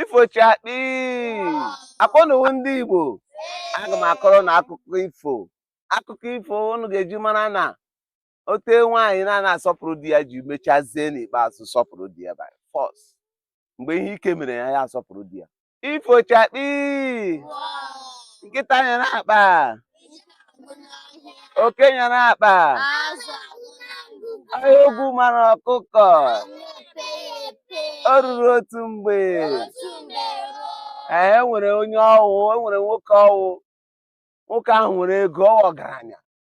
ifo chakpi akpọnuwu ndị igbo aga m akọrọ unu akụkọ ifo akụkọ ifo unu ga-eji mara na otu nwaanyị na-ana asọpụrụ di ya ji mechazie n'ikpeazụ sọpụrụ di ya by force mgbe ihe ike mere ya ya asọpụrụ di ya ifo chakpi nkịta nyara akpa oke nyara akpa ọhịa ogwu mara ọkụkọ o ruru otu mgbe ee nwere onye ọ wụ e nwere nwoke ọ wụ nwoke ahụ nwere ego ọ wụ ọgaranya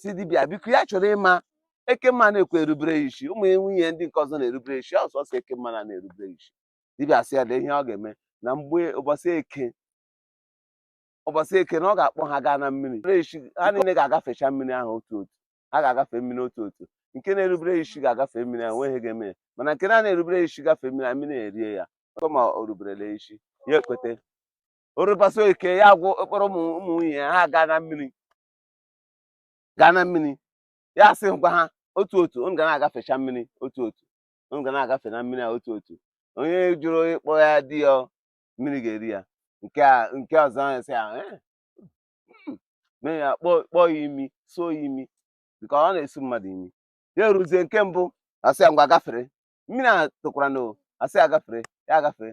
sị dibịa biko ya chọrọ ịma ekemma na-ekwe erubere ya isi ụmụ nwunye ndị nke ọzọ na-erubere isi ọ sọsọ ekemma na-ana erubere ya isi dibịa sị ya lee ihe ọ ga-eme na mgbe ụbọchị eke ụbọchị eke na ọ ga-akpọ ha gaa na mmiri sị ha niile ga-agafecha mmiri ahụ otu otu ha ga-agafe mmiri otu otu nke na-erubere isi ga-agafe mmiri ahụ nweghị ga-eme ya mana nke na-erubere isi gafee mmiri a mmiri erie ya ọtọ ma o ruberela isi ya ekweta o ruo ụbọchị eke ya gwụ ọ kpọrọ ụmụ nwunye ya ha gaa na mmiri gaa na mmiri ya asị gwa ha otu otu unu ga na-agafecha mmiri otu otu unu ga na-agafe na mmiri a otu otu onye jụrụ ịkpọ ya di ya mmiri ga-eri ya nke a nke ọzọ ahụ sị ahụ eh, hmm, mee ya kpọọ ya imi suo ya imi nke ọ na-esu mmadụ imi ya eruzie nke mbụ a sị ya ngwa gafere mmiri a tụkwara na asị ya gafere ya gafere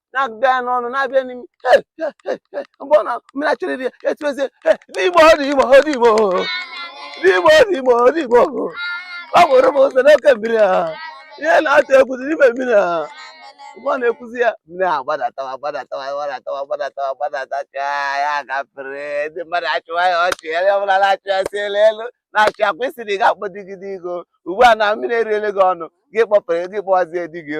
na-abịa n'ọnụ na-abịa n'imi mgbe ọ na mmiri achọrọ iri ya etuezie n'igbo ọ dị igbo ọ dị igbo n'igbo ọ dị igbo ọ dị igbo ọ bụrụ m ụzọ n'oke mmiri a ihe na-atụ egwu dị n'ime mmiri a mgbe ọ na-ekwuzi ya mmiri a gbadatawa agbadatawa gbadatawa gbadatawa gbadatacha ya gafere ndị mmadụ achụwa ya ọchị ya onye ọbụla na-achụ ya si elu elu na-achị akwa isiri ga-akpọ di gị di gị ugbu a na mmiri eriele gị ọnụ gị kpọpere gị kpọwazie di gị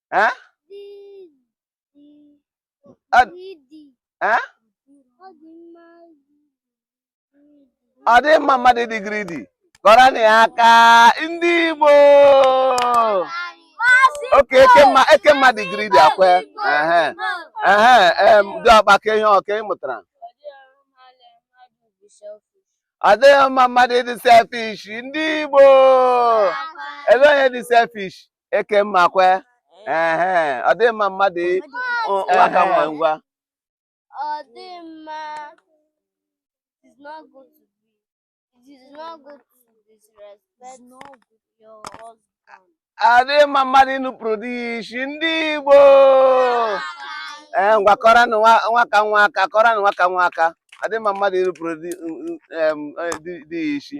eh? ọ dịghị mma mmadụ ịdị greedy kụọrọnụ ya aka ndị Igbo okay ekemma dị greedy akwe dị ọkpa ka ihe ọka ị mụtara ọ dịghị mma mmadụ ịdị selfish ndị Igbo ele onye dị selfish eke mma kwe ehe ọ dịghị mma mmadụ i- Ọ- ehe, aka nwa. ngwa Ọ dị mma. It is not good to be. It is not good to disrespect your husband. ọ dịghị mma mmadụ inupụrụ di ya isi ndị Igbo ee ngwa kụọranụ nwa- nwaka nwa aka kụọranụ nwaka nwa aka ọ dịghị mma mmadụ inupụrụ di em, eh, di- di ya isi